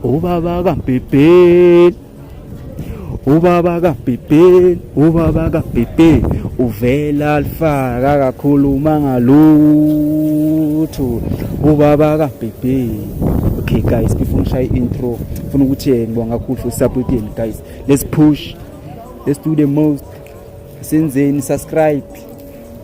Ubaba kaBhibheli Ubaba kaBhibheli Ubaba kaBhibheli uvela alifaka akakhuluma ngalutho Ubaba kaBhibheli Okay guys before ngishaye intro ngifuna ukuthi eh, ngibonga kakhulu for support yenu guys let's push let's do the most senzeni subscribe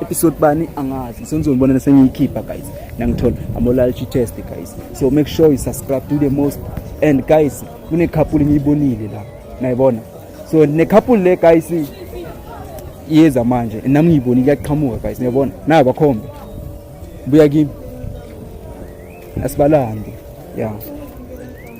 episode bani angazi senizonibona sengiyikhipha guys nangithola I'm allergy test guys so make sure you subscribe do the most and guys kune couple ngiyibonile la nayibona so ne couple le guys iyeza manje nami ngiyibonile yaqhamuka guys niyabona nayo bakhombe buya kimi asibalande yeah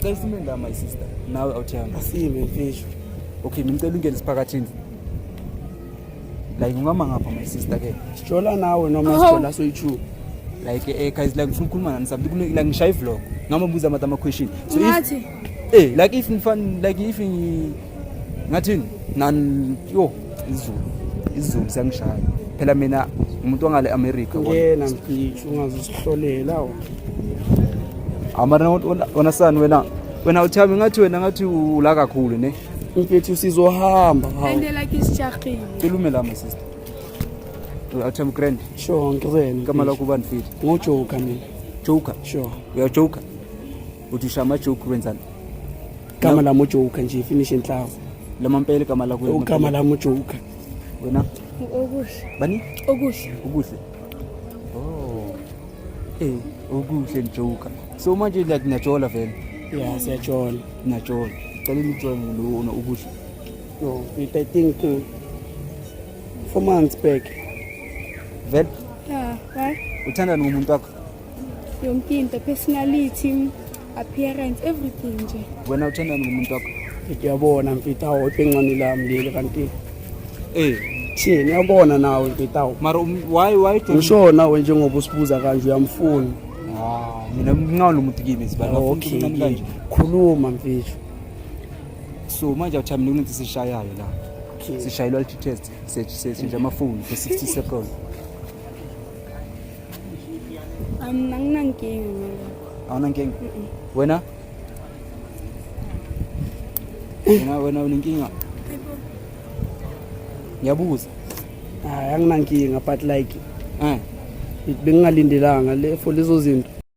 Cela isime la my sister. Nawe awuthanga. Asime mfisho. Okay, ngicela ungene siphakathini. Like ungama ngapha my sister ke. Sijola nawe noma oh. sijola soyichu. Like eh guys like ngifuna ukukhuluma nani something like ngishaye vlog. Ngamabuza ama question. So if Eh, like if ngifan like if ngathini nani yo izulu izulu siyangishaya phela mina umuntu wangale America ngena mfisho ungazisihlolela amara wona sani wena wena uthami ngathi wena ngathi ula kakhulu ne mfethu sizohamba andela kisijaqile ilume lama sister uthami grand sure ngizena kama lakho ubani mfethu ngojoka mina joker sure uyajoka uthi usha ama joke wenzani gama lami ujoker nje finish enhlavu lama mpela igama lakho ugama lami ujoker wena okuhle bani okuhle okuhle oh eh okuhle njoker so manje like niyajola vele ya siyajola niyajola cela nijola ngilona okuhle no it i think uh, four months back vele yeah why uthandana nomuntu wakho yonke into personality appearance everything nje wena uthandani ngomuntu wakho ngiyabona mfita awu iphengcane lami leli kanti eh thini yabona nawe mfita awu mara um, why why ngisho nawe njengoba usibuza kanje uyamfuna ah mina ngingawona umuntu kimi sibani okay kanje khuluma mfisho so manje awuthi mina kunethi sishayayo la sishayelwa litest seshintsha amafoni for 60 seconds Um, anginankinga ngalokho. Awunankinga? Wena? Wena wena unenkinga? Ngiyabuza. Hayi anginankinga but like eh bengingalindelanga le for lezo zinto.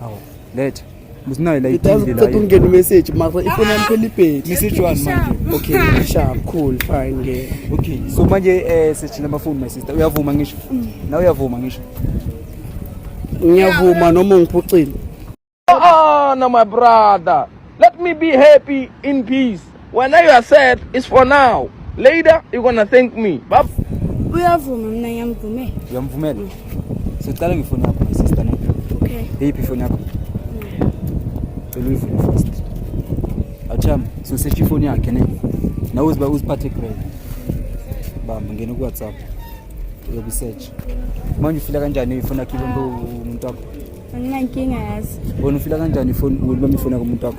Hawu, letha. Musinayo la Ngithatha iphindi ukuthatha la. ungena imessage mara ifoni yami phela ibhedi. Message one manje. Okay, ngishaya cool fine ngeke. Okay, so manje eh sejina amafoni my sister. Uyavuma ngisho? Na uyavuma ngisho? Ngiyavuma noma ungiphucile. Ah, no, my brother. Let me be happy in peace. When I are sad, it's for now. Later, you're gonna thank me. Bab. Uyavuma mina ngiyamvumela. Uyamvumela? Mm. Sicela ngifone yakho my sister ne. Okay. Iphi ifoni yakho? Cela uyivule first. Acham, so search ifoni yakhe ne. Nawe uziba uziphathe grade. Bamba ngena ku WhatsApp. Uyobe search. Manje ufila kanjani ifoni yakhe umuntu wakho? Anginankinga yazi. Wena ufila kanjani ifoni umuntu ifoni yakho umuntu wakho?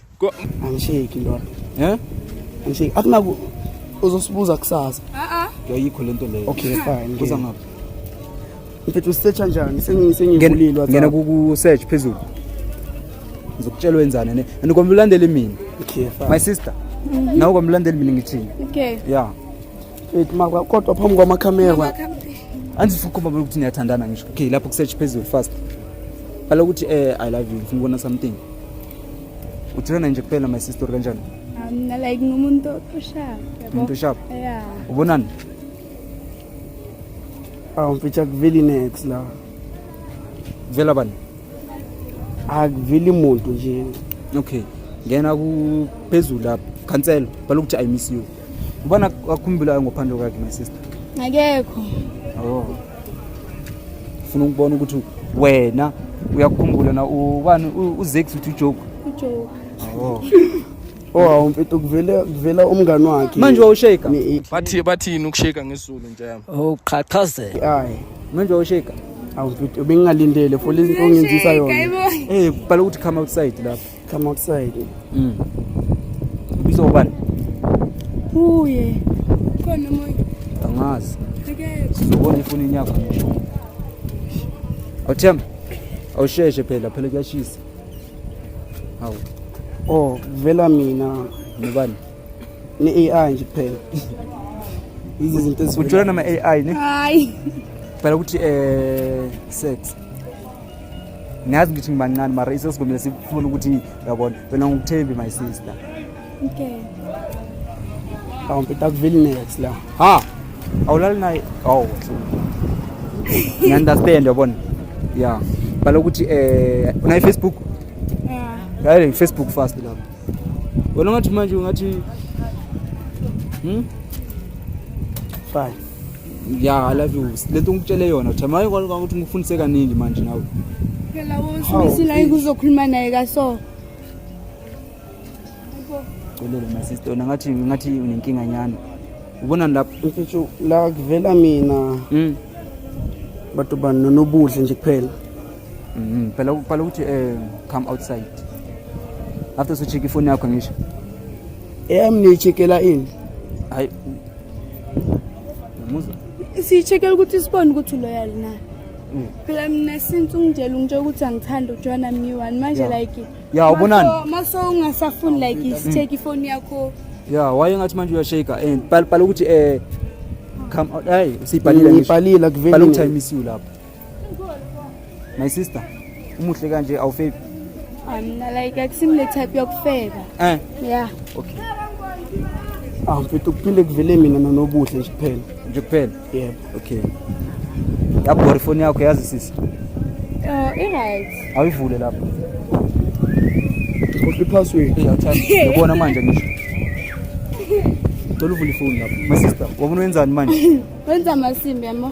Angisheki ndoda. Eh? Angisheki. Akunaku uzosibuza kusasa. Ah ah. Yayikho lento leyo. Okay, fine. Kuza ngapha. Mfethu usearcha njani? Sengi sengivulile WhatsApp. Ngena ku search phezulu. Ngizokutshela wenzani ne. Andikombe ulandele mina. Okay, fine. My sister. Mhm. Nawe kombe ulandele mina ngithini? Okay. Yeah. Mfethu makwa kodwa phambi kwama camera. Andifukhomba ukuthi niyathandana ngisho. Okay, lapho ku search phezulu fast. Bhala ukuthi eh I love you. Ngifuna ukubona something. uthulana nje kuphela my sister kanjani mina like ngumuntu oshap umuntu oshap yeah ubonani awu mfitha kuveli next la vela bani akuveli muntu nje okay ngena kuphezulu lapha khansela balokuthi i miss you Ubona akhumbulayo ngophando kwakhe my sister. Akekho. Oh. Ufuna ukubona ukuthi wena uyakhumbula na ubani uZex uthi ujoke. Ujoke. Oh. Oh awumfethu kuvela kuvela umngani wakhe. Manje wawusheka. Bathi bathini ukusheka ngesulu nje yami. Oh qhaqhazela. Hayi. Manje wawusheka. Awumfethu bengingalindele for lezi ongenzisa yona. Eh bhala ukuthi come outside lapha. Come outside. Mm. Ubiza ubani? Uye. Khona moya. Angazi. Sizobona ifoni yakho ngisho. Awuthemba? Awusheshe phela phela kuyashisa. Hawu. Oh, vela mina. Nobani? Ni AI nje kuphela. Izi zinto ezivela. Ujula nama AI ne? Hayi. Phela ukuthi eh sex. ngiyazi ngithi ngibancane mara isesigombile sifuna ukuthi yabona wena ngikuthembi my sister okay awumpita kuveli next la ha awulali naye awu ngiunderstand yabona ya bhala ukuthi eh unayi facebook ya yeah. facebook fast lapho wena ungathi manje ungathi hmm? fine ya love you le nto ngikutshele yona uthi maye kwalika ukuthi ngikufundise kaningi manje nawe phela wosibisila ikuzokhuluma naye ka so Xolele my sister ona ngathi ngathi unenkinga nyana ubona lapho uthi la kuvela mina mm bato bani nonobuhle nje kuphela mhm phela ukuqala ukuthi eh come outside after so check ifoni yakho ngisho eyami niyichekela ini hayi siyi-check-ele ukuthi sibone ukuthi uloyal na mm. phela mina since ungitshela ungitshela ukuthi angithanda ujoyina myiwani manje like ya ubonani maso ungasafuni like mm. sitheke ifoni yakho ya waye ngathi manje uyashake and bhala ukuthi um come out hayi siyibhalile ngibhalile akuveli ukuthi i miss you lapho My sister, umuhle kanje awufebi? Mina like akusimile type yokufeba. Eh. Yeah. Okay. Ah, mfethu kuphinde kuvele mina nonobuhle nje kuphela. Nje kuphela? Yebo. Okay. Yabhora ifoni yakho yazi sisi. Eh, uh, right. Awivule lapho. Kodwa ipassword. Eh, awuthatha. Yabona manje ngisho. Toluvula ifoni lapho. My sister, wabona wenzani manje? Wenza amasimbi yamo.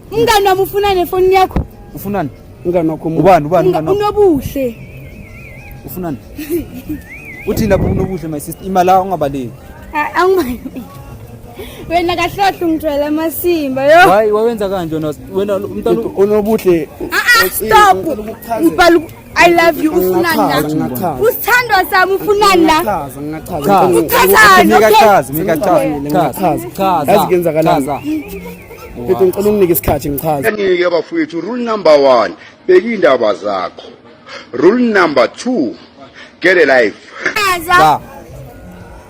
Umngane wami ufuna nefoni yakho. Ufunani? Umngane wakho ubani ubani umngane wakho? Unobuhle. Ufunani? Uthini lapho unobuhle my sister? Imali la ungabaleki. Angibali. Wena kahlohlo ngithwele amasimba yo. Hayi wawenza kanje wena umntana unobuhle. Ah ah stop. Ngibhala I love you ufunani la usithandwa sami ufunani la uthathani yazi kuyenzakalani mfethu ngicela unginike isikhathi ngichaze kanike bafowethu rule number one beka iy'ndaba zakho rule number two get a life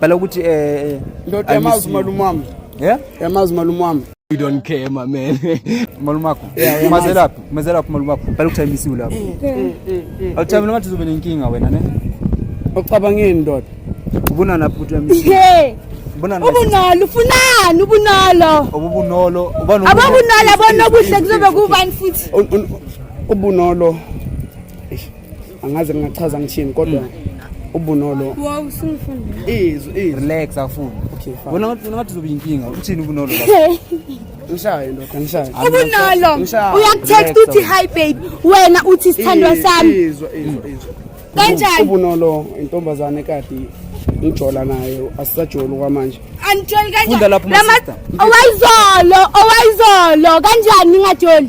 Bala ukuthi eh ndoda eh, yamazi malume wami. Yeah? Yamazi malume wami. You don't care my man. Malume wakho. Umazelaphi? Umazelaphi malume wakho? Bala ukuthi I miss you lapho. Awuthabi noma uzobe nenkinga wena ne? Ucabangeni ndoda. Ubona lapho ukuthi I miss you. Yeah. Ubonalo ufunani ubunalo. Ubunolo. Ubani? Ababunalo abonobuhle kuzobe kubani futhi? Ubunolo. angaze ngingachaza ngithini kodwa mm. ubunolo wow singifundile izwi izwi relax afuna okay fine wena ngathi ngathi uzoba inkinga uthini ubunolo Ngishaye ndoda ngishaye. Ubunolo. Uyakutext uthi hi babe. Wena uthi isithandwa sami. Izwa izwa izwa. Kanjani? Ubunolo intombazane kade ngijola nayo asisajoli kwamanje. Anijoli kanjani? Funda lapho mama. Owayizolo, owayizolo kanjani ningajoli?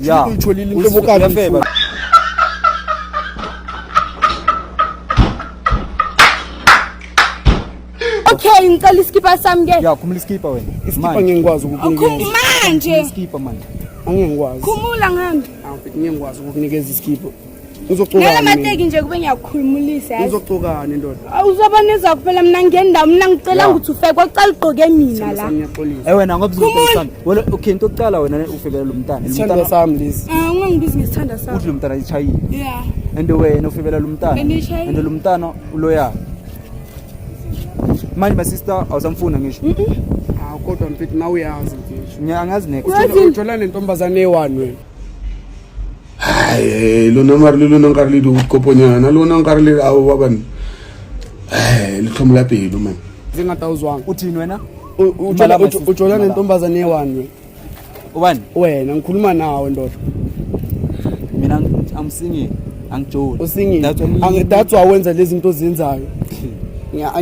ya uyitholile into bokani Okay, ngicela iskipa sami ke. Ya, khumula iskipa wena. Iskipa ngeke ngikwazi ukukunikeza. Khumanje. Iskipa manje. Angeke ngikwazi. Khumula ngihambe. Angifiki ngeke ngikwazi ukukunikeza iskipa. uzocukamateki nje kube ngiyakukhulumulisa uzocukani ndoda uzoba nezwa kuphela mina ngendawo mina ngicela ukuthi ufeke kwacala ugqoke mina la e wena ngobukhe into okucala wena ufikele lo mntana isithanda sami lesi ah, ungangibizi ngesithanda sami uthi lo mntana ishayile ya and wena ufikela lo mntana and lo mntana uloyaka manje my sister awusamfuna ngisho ah, kodwa mfethu nawe uyazi ngisho ngiyangazi next uthola nentombazane ewanwe hayi lona mari le lona nkare le dikoponyana lona nkare le ao ba bane hayi litlhomo la pelo mane tse ngata o zwang o thini wena o tshola nentombazane ewanwe ubani wena ngikhuluma nawe ndoda mina amsingile angijoli usingile that's why wenza lezi zinto ozenzayo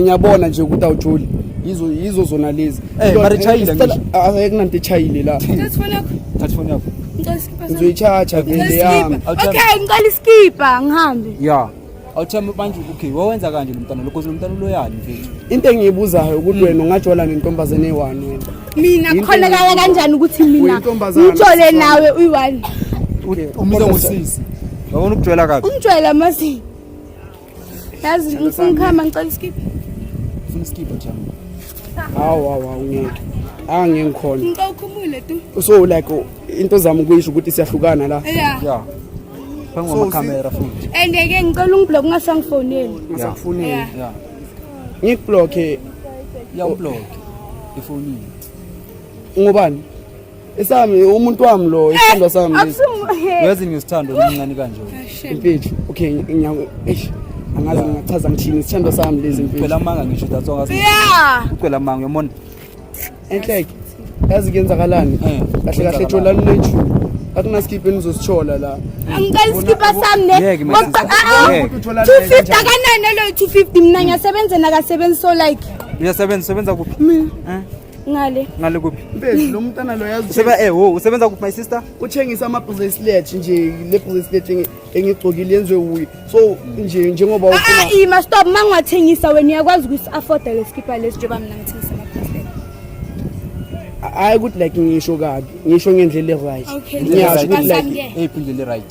ngiyabona nje ukuthi awujoli yizo yizo zona lezi eh, kunanto echayile la Ngizoyithatha vele yami. Okay, ngicela iskipha ngihambe. Yeah. Awuthembe manje okay, wawenza kanje lo mntana lokho lo mntana uloyani mfethu. Into engiyibuzayo ukuthi wena ungajola nentombazane eyi-one wena. Mina Into kukholakala engiyibuzayo. kanjani ukuthi mina Uyintombazane, ngijole sisifana. nawe uyi-one. Umiza ngosisi. Yabona ukujwela kabi. Ungijwayela amazinyo. Yazi ngifuna ukuhamba ngicela isikipha. Ufuna isikipha jama. Hawu hawu hawu. Ange ngikhona. Ngicela ukhumule tu. So like into zami ukuyisho ukuthi siyahlukana la. Yeah. Yeah. Phangu ama camera futhi. And ke ngicela ungiblock ngasangifoneli. Ngasakufoneli. Yeah. Ngikublock. Yeah, ublock. Ifonini. Ngubani? Esami umuntu wami lo, isithandwa eh, sami. Uyazi ngisithanda omncane kanje. Impethu. Okay, ngiyaku. Eish. Angazi ngingachaza ngithini isithandwa sami lezi impethu. Ucela amanga ngisho that's all. Yeah. Ucela amanga uyamona. Enhleke. Yazi kuyenzakalani? Eh, kahle kahle thola lunethu. akunaskiphi enizosithola la angicela isikipha sami ne ah, ah. two fifty akanani eloyo two fifty mna ngiyasebenza nakasebenzi so like uyasebenza usebenza kuphi mina eh? ngale ngale kuphi mfethu lo mntana lo yazi useba eh wo usebenza kuphi my sister uthengisa ama bracelet nje le bracelet engigcokile yenziwe wuye so nje njengoba ah, ufuna ah ima stop mangathengisa wena uyakwazi ukuthi afford le skipper lesi njengoba mina ngithengisa ama bracelet hayi ukuthi like ngisho kabi ngisho ngendlela e right ngiyazi ukuthi like hey indlela e right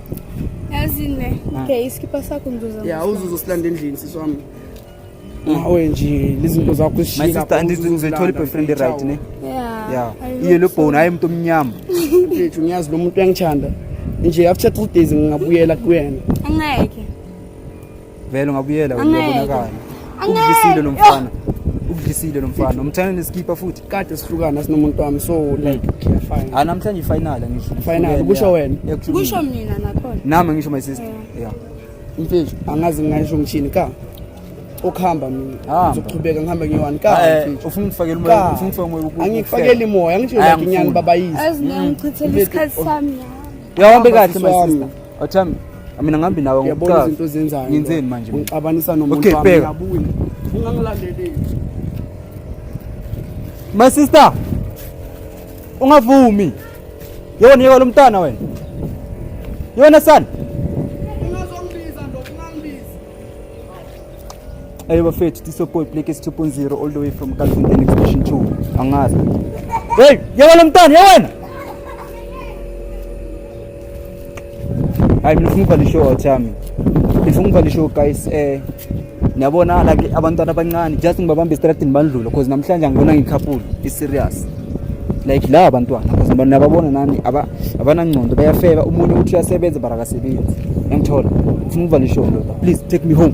Yazine. Ah. Okay, isikipha sakho ngizoza. Yeah, uzuzo silanda endlini sisi wami. Ngawe mm. nje lizinto zakho zishika. My sister andithi ngizothola iboyfriend right ne? Yeah. Yeah. Iye lo bone hayi umuntu omnyama. Mfethu ngiyazi lo muntu uyangithanda. Nje after 3 days ngingabuyela kuyena. Angeke. vele ungabuyela uyabonakala ukudlisile lo mfana ukudlisile lo mfana nomthanda nesikipha futhi kade sihlukana sinomuntu wami so like clear fine ah namhlanje final ngisho final kusho wena kusho mina nakhona nami ngisho my sister yeah imfethu angazi ngisho ngishini ka okuhamba mina ah. ngizoqhubeka ngihambe ngiyowani ka eh, eh, ufuna ukufakela umoya ufuna ukufakela umoya angikufakeli imoya ngisho nginyani babayisi azingichithela isikhathi sami yahamba kahle my sister Athami, mina ngihambi nawe ngiyabona ngokuqala. izinto ozenzayo Ngenzeni manje? mina? ngixabanisa Okay, nomuntu wami bheka. ngiyabuya ungangilaleli My sister. Ungavumi. Yona yeka lomntana wena. Yona son. Ayo bafethu tisopoy plekes 2.0 all the way from Kalfinteni exhibition 2 angazi hey yewena mntana yewena hayi mina ngifuna ukubhala ishow out yami ngifuna ukubhala ishow guys eh niyabona like abantwana abancane just ngibabambe estradini bandlula cause namhlanje angibona ngikhaphulo i-serious like la abantwana because abantu nababona nani aba abanangcondo bayafeba umuntu uthi uyasebenza barakasebenzi engithola ufuna ukuvala isholo please take me home